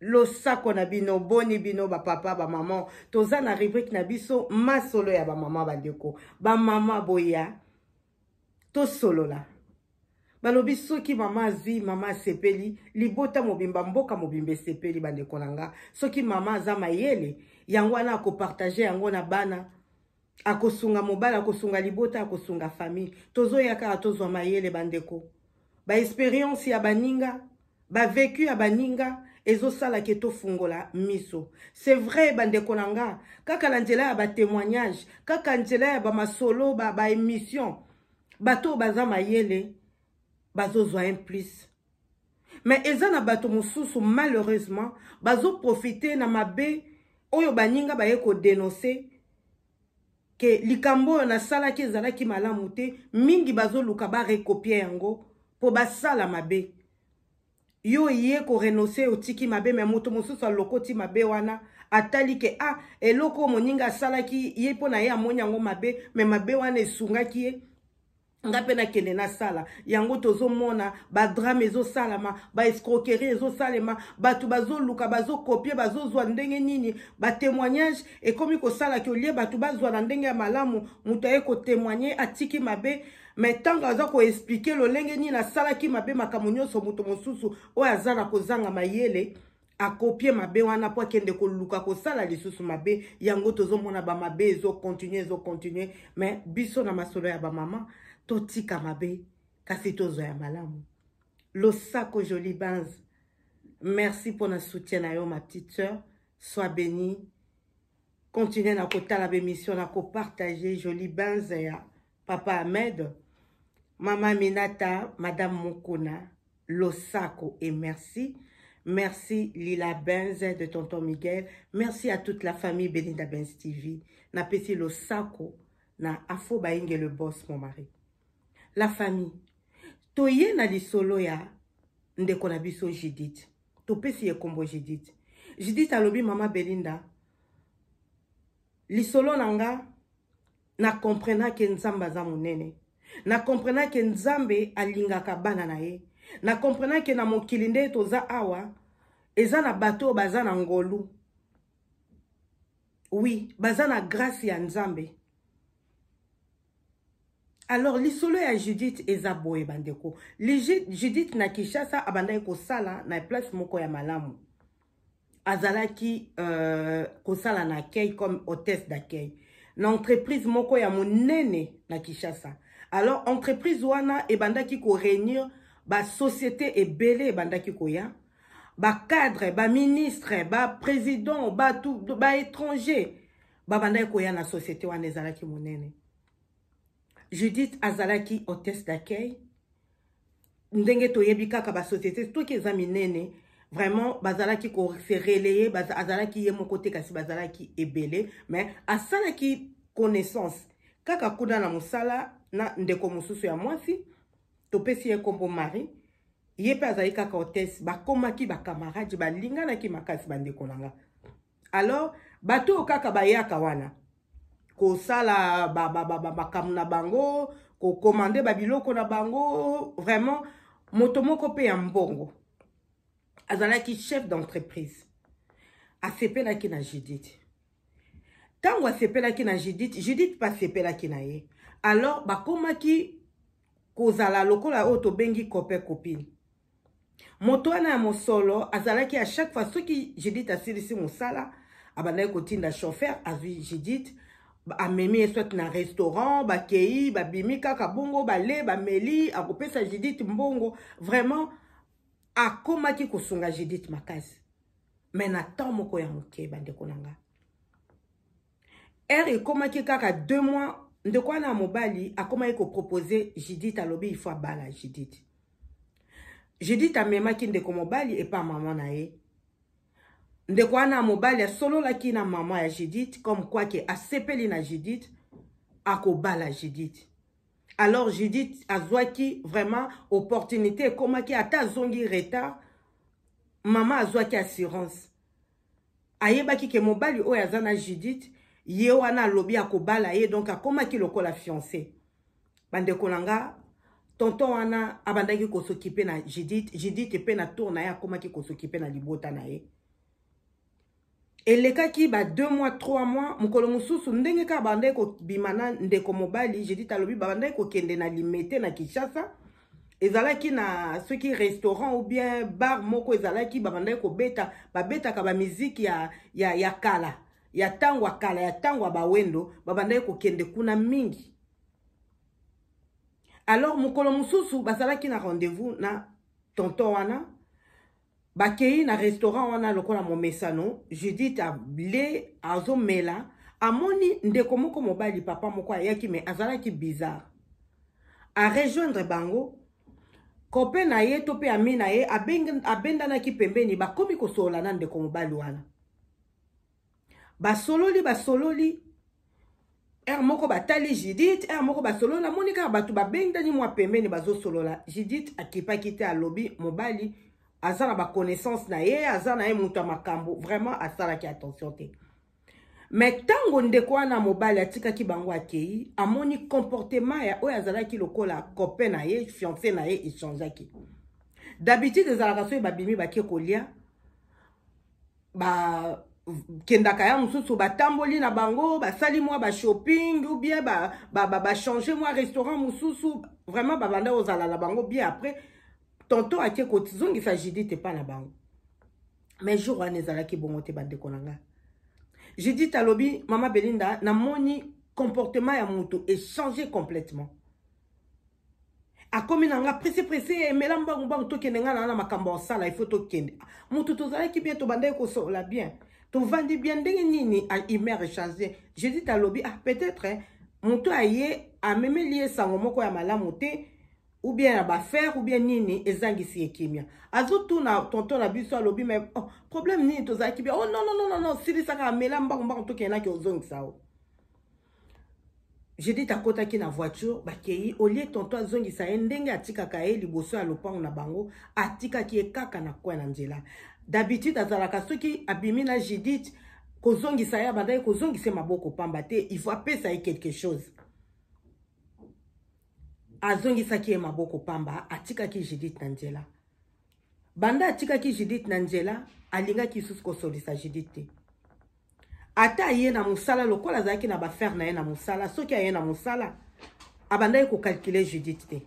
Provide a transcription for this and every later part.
losako na bino boni bino bapapa bamama toza na rubrike na biso masolo ya bamama bandeko bamama boya tosolola balobi soki mama azwi mama asepeli libota mobimba mboka mobimba esepeli bandeko na nga soki mama aza mayele yango wana akopartage yango na bana akosunga mobali akosunga libota akosunga famille tozoya kaka tozwa mayele bandeko baexperience ya baninga bavecu ya baninga ezosala ke tofungola miso c'est vrai bandeko na nga kaka na nzela ya batémoignage kaka nzela ya bamasolo baémission ba bato oyo baza mayele bazozwa un plus Mais eza na bato mosusu malheureusement bazo profiter na mabe oyo baninga baye ko denoncer ke likambo oyo nasalaki ezalaki malamu te mingi bazoluka barekopie yango mpo basala mabe yo oye korenonse otiki mabe me moto mosusu alokoti mabe wana atali ke a ah, eloko oyo moninga asalaki ye mpo na ye amoni yango mabe me mabe wana esungaki ye nga mpe nakende nasala yango tozomona badrame ezosalama baescroquerie ezosalema bato bazoluka bazokopie bazozwa ndenge nini batemoignage ekomi kosala ke olie bato bazwa na ndenge ya malamu moto aye kotemoigne atiki mabe me ntango aza koexplike lolenge nini asalaki mabe makambo nyonso moto mosusu oyo aza na kozanga mayele akopie mabe wana mpo akende koluka kosala lisusu mabe yango tozomona bamabe ezokontinue ezokontinue me biso na masolo ya bamama totika mabe kasi tozwa ya malamu losako jolie bans merci mpo na soutien na yo ma petite sœur soit béni continue na kotala bemission na kopartage jolie bans ya papa ahmed mama minata madame mokuna Losako et merci. Merci Lila Benz de Tonton Miguel. Merci à toute la famille Belinda Benz TV. Na pesi Losako na Afo Bainge le boss mon mari. La famille. Toye na lisolo ya ndeko na biso Judith. Topesi ye kombo Judith. Judith alobi mama Belinda lisolo na nga na comprena ke nzambe aza monene na comprena ke nzambe alingaka bana na ye na comprena ke na mokili nde toza awa eza na bato oyo baza na ngolu oui baza na grâce ya nzambe alors lisolo ya judith eza boye bandeko judith na kinshasa abandaki kosala na place moko ya malamu azalaki euh, kosala na accueil comme hôtesse d'accueil na entreprise moko ya monene na kinshasa alors entreprise wana ebandaki koréunir basociété ebele ebandaki koya bacadre baministre baprésident bato baétranger babandaki koya na société wana ezalaki monene judith azalaki hôtesse d'accueil ndenge toyebi kaka ba société soki eza minene vraiment bazalaki ko se relayer baz, azalaki ye moko te kasi bazalaki ebele mais asalaki connaissance kaka kuna na mosala na ndeko mosusu ya mwasi topesi ye nkombo marie ye mpe azali kaka hotesse bakomaki bakamarade balinganaki makasi bandeko na nga alors bato oyo kaka bayaka wana kosala makambo na bango kokomande babiloko na bango vraiment moto moko mpe ya mbongo azalaki chef d'entreprise asepelaki na judith ntango asepelaki na judith judith mpe asepelaki na ye alors bakomaki kozala lokola oyo tobengi cope copine moto wana ya mosolo azalaki à chaque fois soki judith asilisi mosala abandaki kotinda chauffeur azwi judith amemi ye soit na restaurant bakei babimi kaka bongo bale bameli akopesa judith mbongo vraiment akomaki kosunga judith makasi me na temps moko ya moke bandeko na nga heure ekomaki kaka deux mois ndeko wana ya mobali akomaki kopropose judith alobi ifo abala judith judith amemaki ndeko mobali epa mama na ye ndeko wana ya mobali asololaki na mama ya judith comme quoi ke asepeli na judith akobala judith alors judith azwaki vraiment opportunité ekomaki ata azongi retard mama azwaki assurance ayebaki ke mobali oyo aza na judith ye wana alobi akobala ye donc akomaki lokola fiance bandeko na nga tonton wana abandaki kosokipe na judith judith mpe na tour na ye akomaki kosokipe na libota na ye elekaki ba 2 mois 3 mois mokolo mosusu ndenge kaka babandaki kobima na ndeko mobali judith alobi babandaki kokende na limete na kinshasa ezalaki na soki restaurant ou bien bar moko ezalaki babandaki kobeta babetaka bamiziki ya, ya, ya kala ya ntango ya kala ya ntango ya bawendo babandaki kokende kuna mingi alors mokolo mosusu bazalaki na rendez-vous na tonton wana bakei na restaurant wana lokola momesano judith ale azomela amoni ndeko moko mobali papa moko ayaki me azalaki bizarre arejoindre bango kope na ye to mpe ami na ye abendanaki pembeni bakomi kosolola na ndeko mobali wana basololi basololi heure moko batali judith heure moko basololi namoni kaka bato babendani mwa pembeni bazosolola judith akipaki te alobi mobali aza na baconnaissance na ye aza na ye moto ya makambo vraiment asalaki attention te me ntango ndeko wana mobali atikaki bango akei amoni comportement ya oyo azalaki lokola cope na ye fiance na ye echangeaki d'habitude ezalaka soki babimi bake kolia ba kendaka ya mosusu batamboli na bango basali mwa bashopping ou bien bachange ba, ba, ba mwa restaurant mosusu vraiment babanda kozala na bango bien après tonton ake kozongisa judith epa na bango mais jour wana ezalaki bongo te bandeko na ngai judith alobi mama belinda namoni comportement ya moto echange complètement akomi na nga presse presse emela mbangu mbangu tokende nga na na makambo osala il faut tokende moto tozalaki bien tobandaki kosolola bien tovandi bien ndenge nini humeur echange judith alobi ah peut-être eh, moto aye amemeli ye sango moko ya malamu te ou bien ya bafere ou bien nini ezangisi ye kimia azotuna tonton na biso alobi me oh, problème nini tozalaki bien oh non non non non silisaka amela mbangu mbangu tokende naki ozongisa o oh. Judith akotaki na voiture bakei olie tonto azongisa ye ndenge atikaka ye liboso ya lopango na bango atikaki ye kaka na coin na nzela d'habitude azalaka soki abimi na Judith kozongisa ye abandaki kozongisa ye maboko pamba te il faut apesa ye quelque chose azongisaki ye maboko pamba atikaki Judith na nzela banda atikaki judith na nzela alingaki lisusu kosolisa judith te ata aye na mosala lokola azalaki na bafere na ye na mosala soki aye na mosala abandaki kokalkule judith te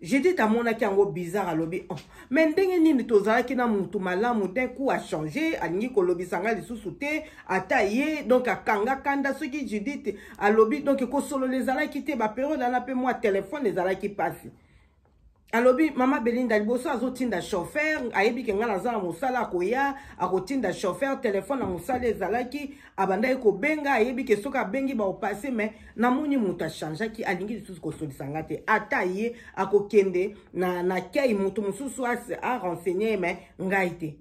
judith amonaki yango bizarre alobi oh, me ndenge nini tozalaki na mutu malamu d'un coup achange alingi kolobisa ngai lisusu te ata ye donc akanga kanda soki judith alobi donc kosolola ezalaki te baperiode ana mpe mwa telefone ezalaki mpasi alobi mama belinda liboso azotinda chauffeur ayebi ke ngai naza na mosala akoya akotinda chauffeur telefone na mosala ezalaki abandaki kobenga ayebi ke soki abengi baopase mai namoni moto achangeaki alingi lisusu kosolisa ngai te ata ye akokende na, na kei moto mosusu arenseigne ye mai ngai te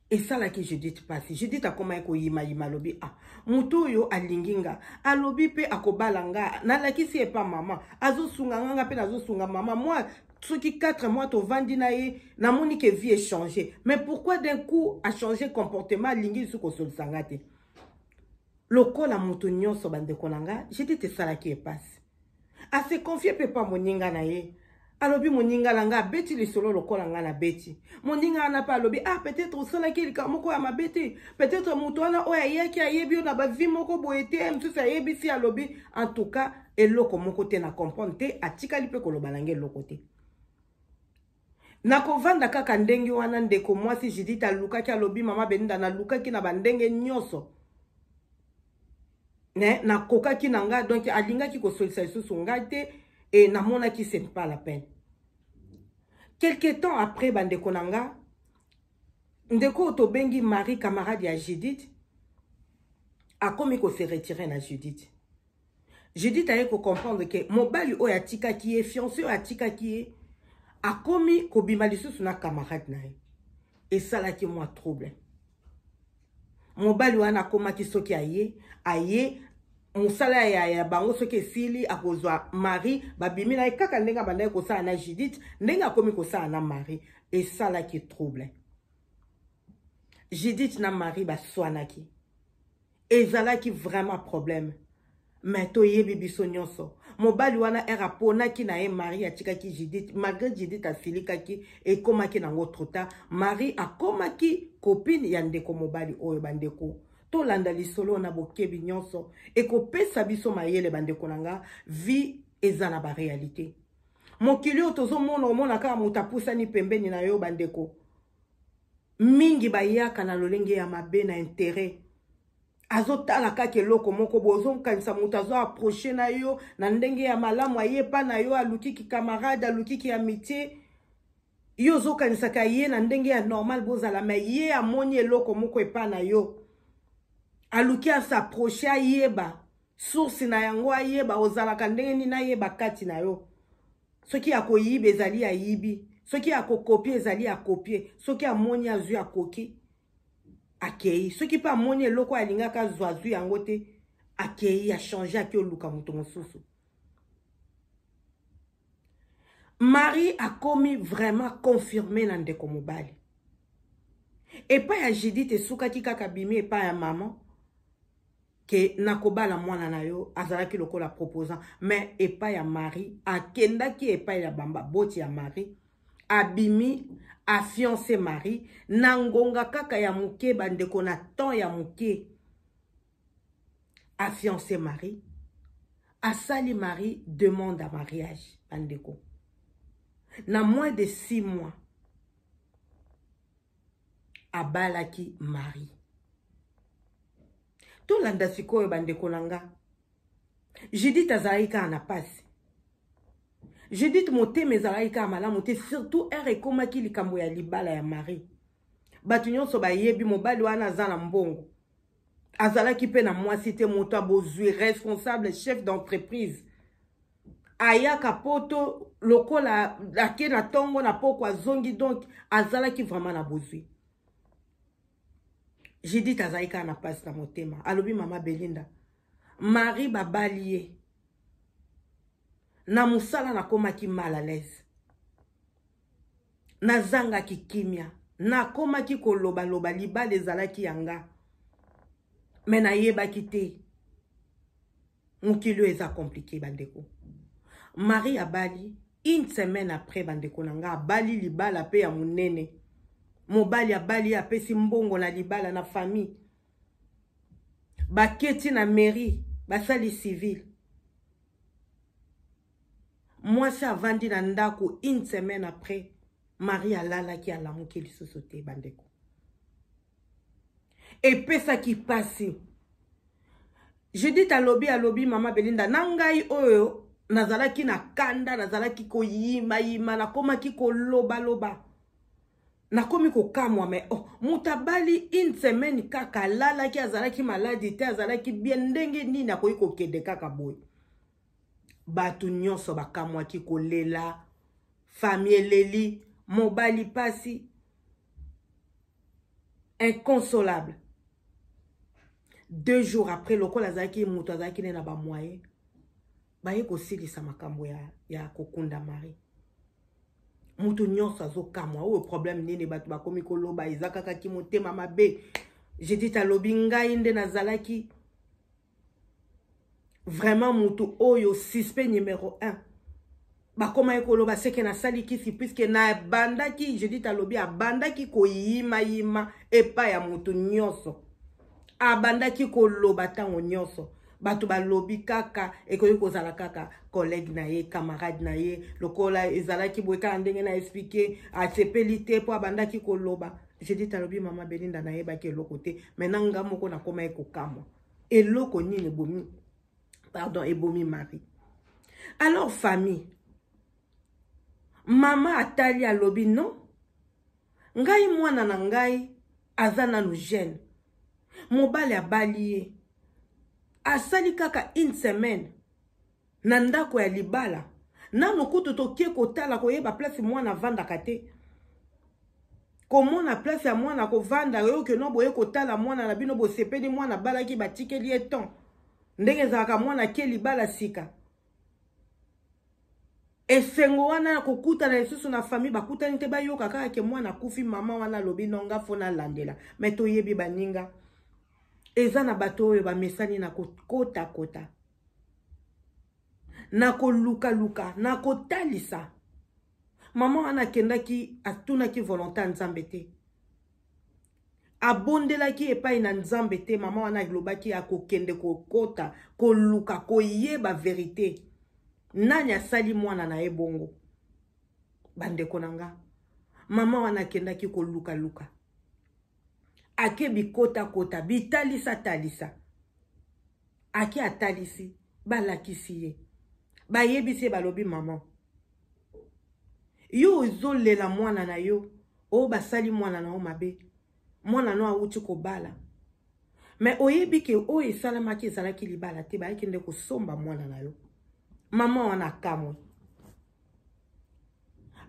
esalaki judith mpasi judith akomaki koyimayima alobi a ah, moto oyo alingi nga alobi mpe akobala nga nalakisi epa mama azosunga nga nga mpe nazosunga mama mwa soki 4 mois tovandi na ye namoni ke vie echange mais pourquoi d'un coup achange comportement alingi lisusu kosolisa nga te lokola moto nyonso bandeko na nga judith esalaki ye mpasi ase confie mpe mpa moninga na ye alobi moninga na nga abeti lisolo lokola nga na beti moninga wana mpe alobi ah peut-être osalaki likambo moko ya mabe te peut-être moto wana oyo ayaki ayebi yo na bavi moko boye te ye mosusu ayebisi alobi en tout cas eloko moko te na comprendre te atikali mpe koloba na nga eloko te nakovanda kaka ndenge wana ndeko mwasi judith alukaki alobi mama beninda nalukaki na bandenge nyonso ne nakokaki na ngai donk alingaki kosolisa lisusu ngai te e namonaki se pas la peine quelque temps après bandeko na ngai ndeko oyo tobengi marie camarade ya judith akomi kose retire na judith Judith aye ko comprendre que mobali oyo atikaki ye, fiancé oyo atikaki ye, akomi kobima lisusu na camarade na ye. Esalaki mwa trouble. Mobali wana akomaki soki aye, aye mosala ya, ya bango soki esili akozwa mari babimi na ye kaka ndenge abandaki kosala na judith ndenge akomi kosala na mari esalaki trouble judith na mari baswanaki ezalaki vraiment problème mais toyebi biso nyonso mobali wana ere aponaki na ye marie atikaki judith malgré judith asilikaki ekomaki nango trop tard marie akomaki kopine ya ndeko mobali oyo bandeko tolanda lisolo na bokebi nyonso ekopesa biso mayele bandeko na nga vie eza na barealité mokili oyo tozomona omona kaka moto apusani pembeni na yo bandeko mingi bayaka na lolenge ya mabe na interet azotala kaka eloko moko boye ozonkanisa moto azo approche na yo na ndenge ya malamu aye epa na yo aluki kikamarade aluki ki amitie ye ozokanisaka ye na ndenge ya normal bozala me ye amoni eloko moko epa na yo aluki asaproche ayeba source na yango ayeba ozalaka ndenge nini ayeba kati na yo soki ya koyiba ezali ayibi soki ya kokopie ezali ya kopie soki amoni azwi akoki akei soki mpe amoni eloko oyo alingaka azwa azwi yango te akei achange ake oluka moto mosusu marie akomi vraiment confirme na ndeko mobali epai ya judith esukaki kaka bimi epai ya mama ke nakobala mwana na yo azalaki lokola proposant mais epai ya marie akendaki epai ya bambaboti ya marie abimi afiance marie na ngonga kaka ya moke bandeko na temps ya moke afiance marie asali marie demande ya mariage bandeko na moins de six mois abalaki marie tolanda sikoyo bandeko na nga judith azalaki kaka na mpasi judith motema ezalaki kaka malamu te surtout ere ekomaki likambo ya libala ya marie bato nyonso bayebi mobali wana aza na mbongo azalaki mpe na mwasi te moto ya bozwi responsable chef d'entreprise ayaka poto lokola ake na ntongo na poko azongi donc azalaki vraiment na bozwi judith azalaki kaka na mpasi na motema alobi mama belinda marie babali ye na mosala nakomaki mal à l'aise nazangaki kimia nakomaki kolobaloba libala ezalaki ya nga me nayebaki te mokili oyo eza komplike bandeko marie abali une semaine après bandeko na nga abali libala mpe ya monene mobali abali ye apesi mbongo na libala na famille baketi na mairie basali civile mwasi avandi na ndako une semaine après marie alalaki alamuki lisusu te bandeko epesaki mpasi judith alobi alobi mama belinda na ngai oyo nazalaki na kanda nazalaki koyimayima nakomaki kolobaloba nakomi kokamwa me oh, moto abali une semaine kaka alalaki azalaki maladi te azalaki bien ndenge nini akoki kokende kaka boye bato nyonso bakamwaki kolela fami eleli mobali mpasi inconsolable deux jours après lokola azalaki moto azalaki nde na bamoyen baye kosilisa makambo ya, ya kokunda marie moto nyonso azokamwa oyo problème nini bato bakomi koloba eza kaka kimotema mabe judith alobi ngai nde nazalaki vraiment mutu oyo suspect numero 1 bakoma ye koloba seke nasali kisi puiske nabandaki judith alobi abandaki koyimayima epai ya motu nyonso abandaki koloba ntango nyonso bato balobi kaka ekoki kozala kaka collègue na ye camarade na ye lokola ezalaki boye kaka ndenge na explike asepeli te mpo abandaki koloba judith alobi mama belinda nayebaki eloko te mai na nga moko nakomaki kokamwa eloko nini ebomi pardon ebomi mari alors famille mama atali alobi non ngai mwana na ngai aza nanu jeune mobali abali ye asali kaka une semaine na ndako ya libala nano kutu toke kotala koyeba place mwana avandaka te komona place ya mwana kovanda yo keno boye kotala mwana na bino bosepeli mwana abalaki batikeli ye temps ndenge ezalaka mwana ake libala sika esengo wana ya kokutana lisusu na famille bakutani te bayoka kaka ke mwana akufi mama wana alobi nonga fo nalandela me toyebi baninga eza na bato oyo bamesani na kokotakota na kolukaluka na kotalisa mama wana akendaki atunaki volonté ya nzambe te abondelaki epai na nzambe te mama wana alobaki akokende kokota koluka koyeba verite nani asali mwana na ye bongo bandeko na nga mama wana akendaki kolukaluka ake bikotakota bitalisatalisa ake atalisi balakisi ye bayebisi ye balobi mama yo ozolela mwana na yo oyo oh, basali mwana na yo mabe mwana na yo awuti kobala me oyebi ke oyo esalamaki ezalaki libala te bayaki nde kosomba mwana na yo mama wana akamwe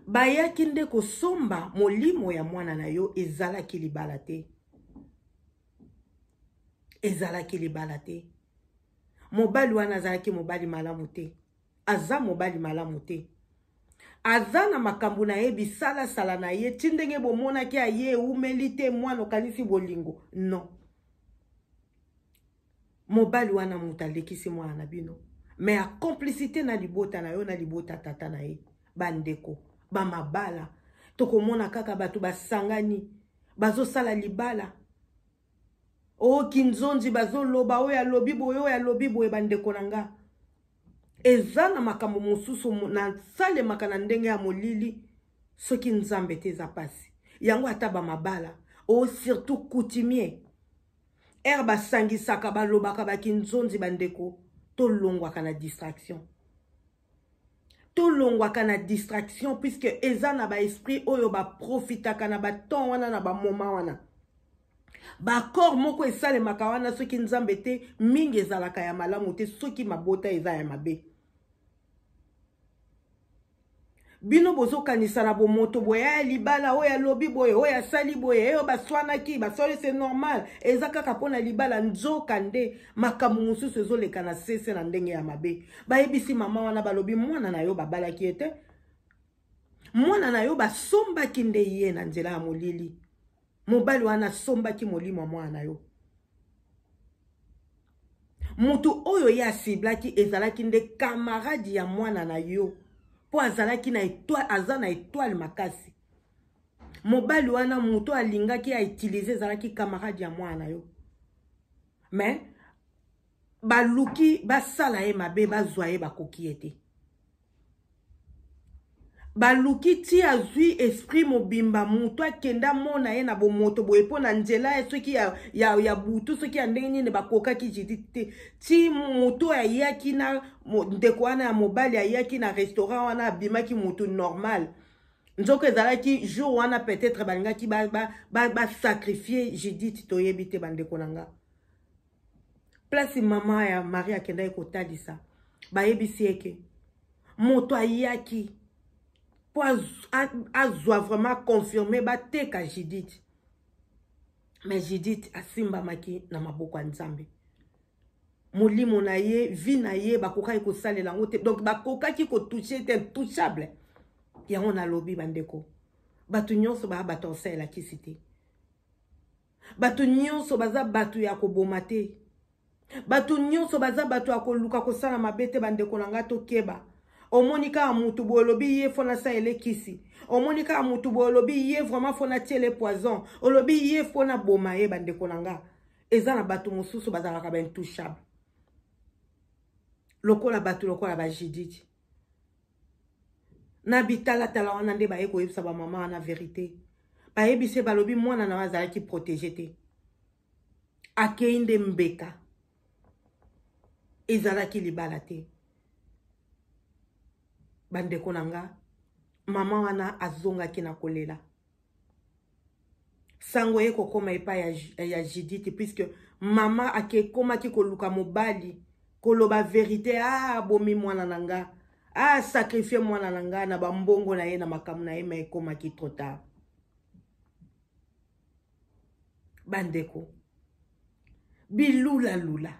bayaki nde kosomba molimo ya mwana na yo ezalaki libala te ezalaki libala te mobali wana azalaki mobali malamu te aza mobali malamu te aza na makambo na ye bisalasala na ye ti ndenge bomonaki aye eumeli te mwana okanisi bolingo non mobali wana moto alekisi mwana na bino me a complicité na libota na yo na libota tata na ye bandeko bamabala tokomona kaka bato basangani bazosala libala o oh, kinzonzi bazoloba oyo alobi boye oyo alobi boye bandeko na nga eza na makambo mosusu nasalemaka na ndenge ya molili soki nzambe te eza mpasi yango ata bamabala o oh, surtout coutumier ere basangisaka balobaka bakinzonzi bandeko tolongwaka na distraction tolongwaka na distraction puisque eza na baesprit oyo baprofitaka na batemp wana na bamoma wana baaccord moko esalemaka wana soki nzambe te mingi ezalaka ya malamu te soki mabota eza ya mabe bino bozokanisa na bomoto boye ya eh, libala oyo alobi boye oyo asali boye eyo eh, baswanaki baswani se normal eza kaka mpo na libala nzoka nde makambo mosusu ezoleka na sese na ndenge ya mabe bayebisi mama wana balobi mwana na yo babalaki ye te mwana na yo basombaki nde ye na nzela ya molili mobali wana asombaki molimo ya mwana na yo moto oyo ye asiblaki ezalaki nde kamarade ya mwana na yo mpo azalaki na etoile aza na etoile makasi mobali wana moto alingaki autilize ezalaki kamarade ya mwana na yo mais baluki basala ye mabe bazwa ye bakoki ye te baluki ti azwi esprit mobimba moto akenda mona ye na bomoto boye mpo na nzela ye soki ya, ya, ya butu soki ya ndenge nini bakokaki jidi te ti moto oyo ayaki na ndeko wana ya mobali ayaki na restaurant wana abimaki moto normal nzoka ezalaki jour wana peut-être balingaki basacrifie ba, ba judith toyebi te bandeko na nga place mama ya marie akendaki kotalisa bayebisi eke moto ayaki mpo azwa vraiment confirme bateka judith me judith asimbamaki na maboko ya nzambe molimo na ye vie na ye bakokaki kosalela yango te donc bakokaki kotouche te touchable yango nalobi bandeko bato nyonso baya bato ya osalelakisi te bato nyonso baza bato ya koboma te bato nyonso baza bato ya koluka kosala mabe te bandeko na ngai tokeba omoni kaka motu boye olobi ye fo nasala elekisi omoni kaka motu boye olobi ye vraiment fo natiele poison olobi ye fo naboma ye bandeko na ngai eza na bato mosusu bazalaka baintouchable lokola bato lokola bajididi na bitalatala wana nde baye koyebisa bamama wana verite bayebise balobi mwana na yo azalaki protege te akei nde mbeka ezalaki libala te bandeko na nga mama wana azongaki na kolela sango ye kokoma epai ya, ya judith puisque mama akekomaki koluka mobali koloba verite a ah, bomi mwana na nga a ah, sacrifie mwana na nga na bambongo na ye na makambo na ye ma ekomaki trop tard bandeko bilulalula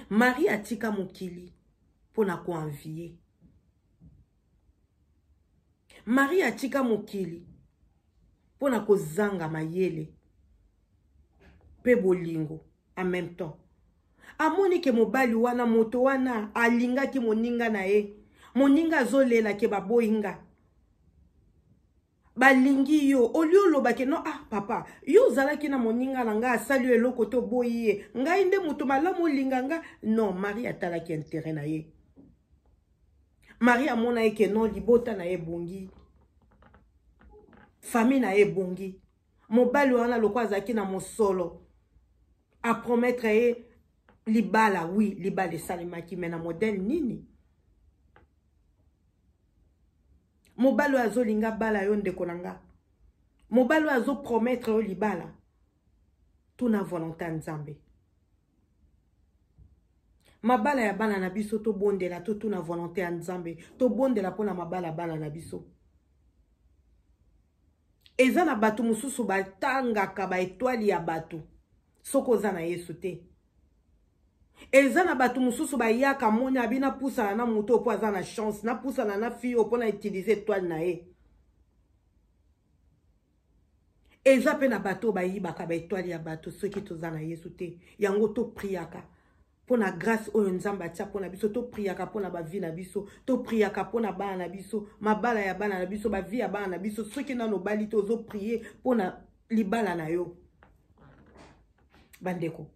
marie atika mokili mpo na koanvie maria atika mokili mpo na kozanga mayele mpe bolingo en même temps amoni ke mobali wana moto wana alingaki moninga na ye moninga azolela ke baboyi nga balingi yo olie olobake no ah papa yo ozalaki na moninga na ngai asali yo eloko te oboyi ye ngai nde moto malamu olinga nga non marie atalaki intere na ye marie amona ye ke non libota na ye ebongi famille na ye ebongi mobali wana loko azalaki na mosolo apromettre ye libala wi libala esalemaki me na modele nini mobali oyo azolinga bala yo ndeko na nga mobali oyo azopromettre yo libala tuna volonté ya nzambe mabala ya bana na biso tobondela totuna volonté ya nzambe tobondela mpo na mabala ya bana na biso eza na bato mosusu batangaka baetwale ya bato soki oza na yesu te eza na bato mosusu bayaka moni abi napusana na moto mpo aza na chance napusana na fille mpo na utilise etoile na ye eza mpe na bato bayibaka baetoile ya bato soki toza na yesu te yango topriaka mpo na grâce oyo nzambe atya mpo na biso topriaka mpo na bavi na biso topriaka mpo na bana na biso mabala ya bana na biso bavi ya bana na biso soki nano obali te ozoprie mpo na libala na yo bandeko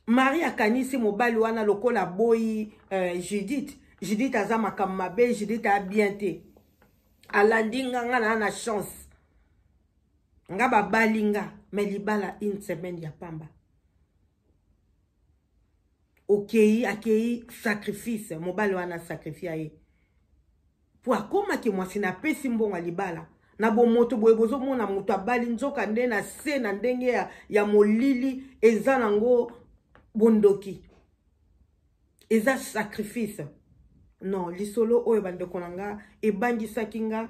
marie akanisi mobali wana lokola aboyi uh, judith judith aza makambo mabe judith aya bien te alandi nga nga naa na chance nga babali nga me libala une semaine ya pamba okei akei sacrifice mobali wana sacrifia ye po akoma ke mwasi na apesi mbongo ya libala na bomoto boye bozomona moto abali nzoka nde na se na ndenge ya, ya molili eza nango bondoki eza sacrifice non lisolo oyo bandeko na nga ebangisaki nga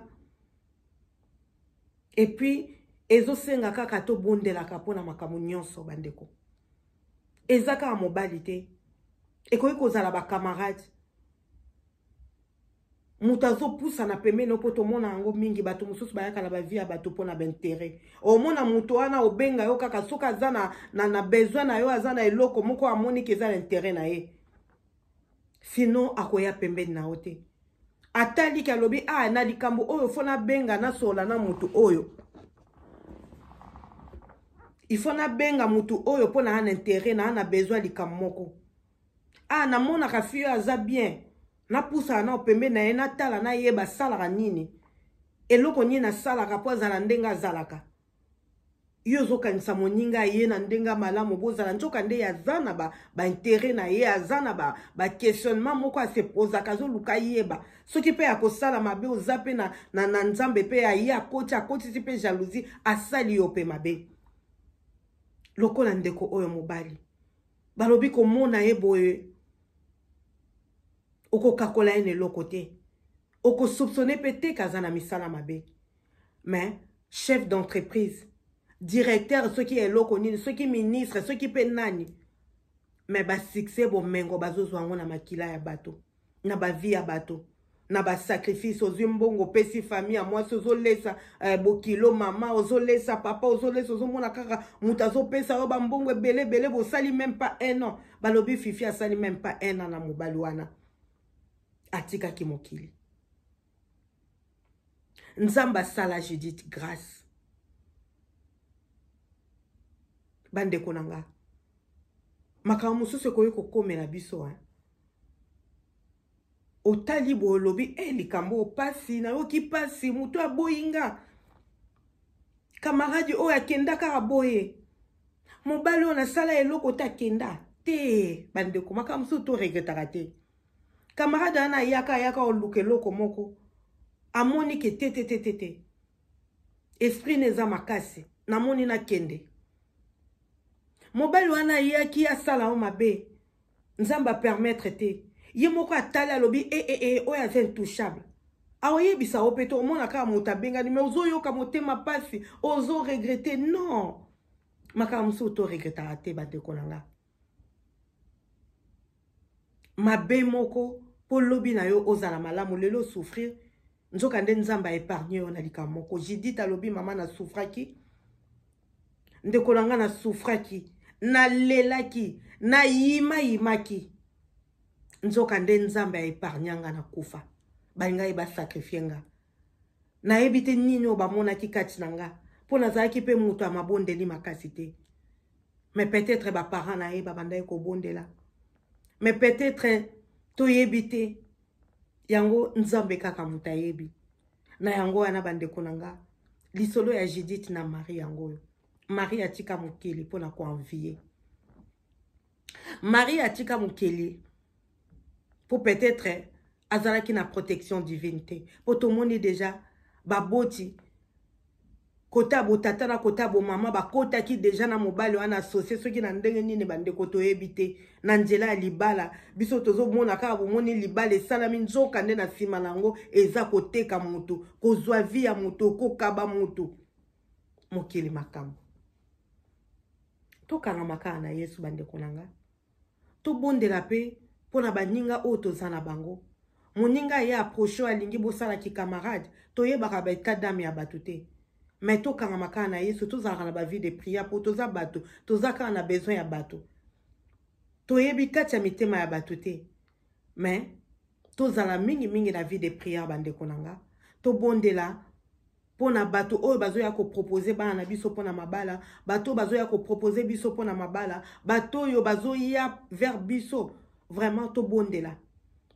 epuis ezosenga kaka tobondelaka mpo na makambo nyonso bandeko eza kaka mobali te ekoki kozala bakamarade moto azopusana pembeni opo tomona yango mingi bato mosusu bayaka na bavie ya bato mpo na baintere omona moto wana obenga yo kaka soki aza na, na, na besoin na yo aza na eloko moko amoniki eza na intere na ye sinon akoya pembeni na yo te ataliki alobi a ah, na likambo oyo fo nabenga nasola na moto oyo ifo nabenga moto oyo mpo naa na intere naa na besoin likambo moko a ah, namonaka fio aza bien napusaka nao pembe na ye natala na ye basalaka nini eloko nini asalaka mpo azala ndenge azalaka yo ozokanisa moninga ye na ndenge malamu bozala nzoka nde aza na baintere ba na ye aza na baquestionnement ba moko asepozaka azoluka yeba soki mpe akosala mabe oza mpe na, na, na nzambe mpe aye akoti akotisi mpe jalousie asali yo mpe mabe lokola ndeko oyo mobali balobi komona ye boye okokakola ye na eloko te okosoupsone mpe te kaza na misala mabe mais chef d'entreprise directeur soki ya eloko nini soki ministre soki mpe nani mais basuccès bomengo bazozwa yango na makila ya bato na bavi ya bato na basacrifice ozwi mbongo opesi famille ya mwasi ozolesa eh, bokilo mama ozolesa papa ozolesa ozomona kaka moto azopesa yo bambongo ebele ebele bosali meme pas un an balobi fifi asali meme pas un an na mobali wana atikaki mokili nzambe asala judith grace bandeko na nga makambo mosusu ekoki kokomela biso hein? otali boye olobi e eh, likambo oyo mpasi nayoki mpasi moto aboyi nga kamaradi oyo akenda kaka boye mobali oyo nasala eloko te akenda te bandeko makambo mosusu toregretaka te kamaradi wana ayaka ayaka oluka eloko moko amoni ke te te te te te esprit na eza makasi namoni nakende mobali wana ayaki asala yo mabe nzambe a permettre te ye moko atali alobi ee eh, eh, eh, oyo aza intouchable aoyebisa yo mpe te omona kaka moto abengani me ozoyoka motema mpasi ozo regrete non makambo mosusu toregretaka te bandeko na nga mabe moko mpo lobi na yo ozala malamu lelo souffrir nzoka nde nzambe aepargne yo na likambo moko jidite alobi mama na souffraki ndeko na ngai na soufraki nalelaki nayimayimaki nzoka nde nzambe aepargna nga na kufa balingaki basakrifie nga nayebi te nini oyo bamonaki kati na nga mpo nazalaki mpe moto ya mabondeli makasi te mais peut-être baparent na ye babandaki kobondela mais peut-être toyebi te yango nzambe kaka moto ayebi na yango wana bandeko na nga lisolo ya judith na marie yango oyo marie atika mokili mpo na koenvie marie atika mokili mpo peut-être azalaki na protection divine te mpo tomoni deja baboti kote ya botata na kote ya bomama bakotaki deja na mobali wana asosie soki na ndenge nini bandeko toyebi te na nzela ya libala biso tozomona kaka bomoni libala esalami nzoka nde na nsima na yango eza koteka motu kozwa vi ya motu kokaba motu mokili makambo tokangama kaka na yesu bandeko na ngai tobondela mpe mpo na baninga oyo toza na bango moninga aye aproche oyo alingi bosala kikamarade toyebaka ba etat dame ya bato te me tokangama kaka na yesu tozalaka na bavie de priere mpo toza bato toza kaka na besoin ya bato toyebi kati ya mitema ya bato te mais tozala mingi mingi na vie de prière bandeko na nga tobondela mpo na bato oyo bazoya kopropose bana na biso mpo na mabala bato oyo bazoya kopropose biso mpo na mabala bato oyo bazoya vers biso vraiment tobondela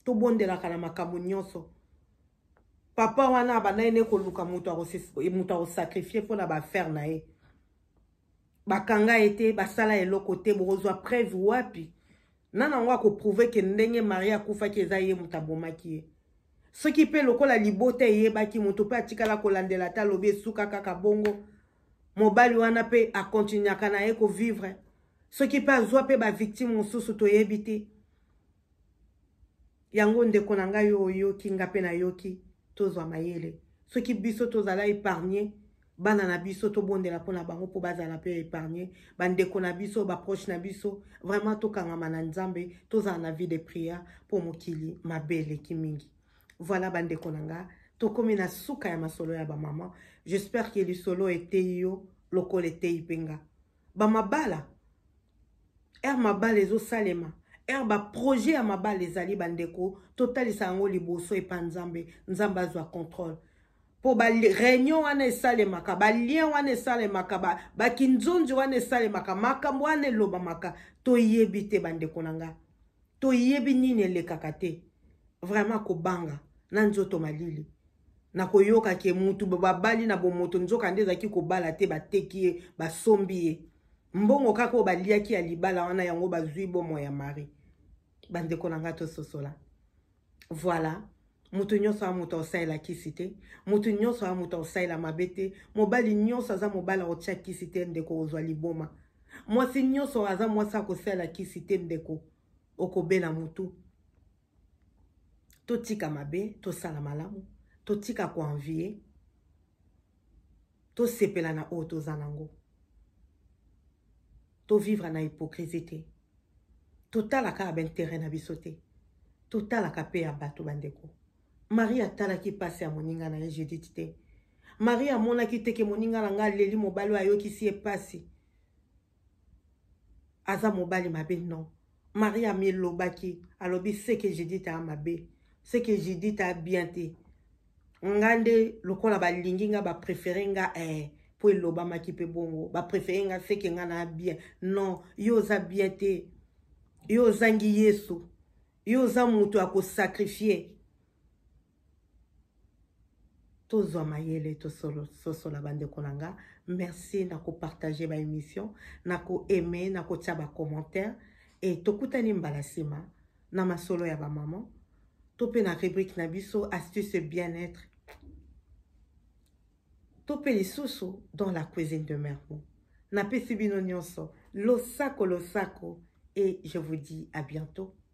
tobondelaka na makambo nyonso papa wana abandaki nde koluka moto akosakrifie mpo na baaffaire na ye bakanga ye te basala eloko te bokozwa preuve wapi nana yango akoprouve ke ndenge marie akufaki eza ye moto abomaki ye soki mpe lokola libota eyebaki moto mpe atikala kolandela ata alobi esuka kaka bongo mobali wana mpe akontinuaka na ye kovivre soki mpe azwa mpe bavictime mosusu toyebi te yango ndeko na ngai oyo oyoki nga mpe nayoki tozwa mayele soki biso tozala épargne bana na biso tobondela mpo na bango mpo bazala mpe épargne bandeko na biso baproche na biso vraiment tokangama na nzambe tozala na vie de prière mpo mokili mabe eleki mingi voilà bandeko na nga tokomi na suka ya masolo ya bamama j'espère ke lisolo eteyi yo lokola eteyi mpe nga bamabala ere mabala ezosalema ere baprojet ya mabala ezali bandeko totalisa yango liboso epa nzambe nzambe azwa contrôle mpo bareunion wana esalemaka balien wana esalemaka bakinzonzi wana esalemaka makambo wana elobamaka toyebi te bandeko na nga toyebi nini elekaka te vraiment kobanga na nzoto malili na koyoka ke mutu babali na bomoto nzoka nde ezalaki kobala te bateki ye basombi ye mbongo kaka oyo baliaki ya libala wana yango bazwi bomo ya mari bandeko na ngai tososola voilà moto nyonso ya moto aosalela kisi te moto nyonso ya moto aosalela mabe te mobali nyonso aza mobali aotya kisi te ndeko ozwa liboma mwasi nyonso aza mwasi akosalela kisi te ndeko okobela motu totika mabe tosala malamu totika koenvie tosepela na oyo toza nango tovivre na hypocrisie te totalaka ya baintere na biso te totalaka mpe ya bato bandeko marie atalaki mpasi ya moninga na ye judite te marie amonaki teke moninga na ngai aleli mobali oyo ayokisi ye mpasi aza mobali mabe non maria amilobaki alobi seke judite a mabe seke judite a bien te nga nde lokola balingi nga bapréféré nga eh, mpo elobamaki mpe bongo bapréféré nga seke nga na bien non yo oza bien te yo ozangi yesu yo oza moto ya kosakrifie tozwa mayele tososola bandeko na nga merci na kopartage baémission na koaime na kotya bacommentaire e tokutani mbala nsima na masolo ya bamama to mpe na rubrike na biso astuce bien-être to mpe lisusu dans la cuisine de mermo napesi bino nyonso losako losako et je vous dis à bientôt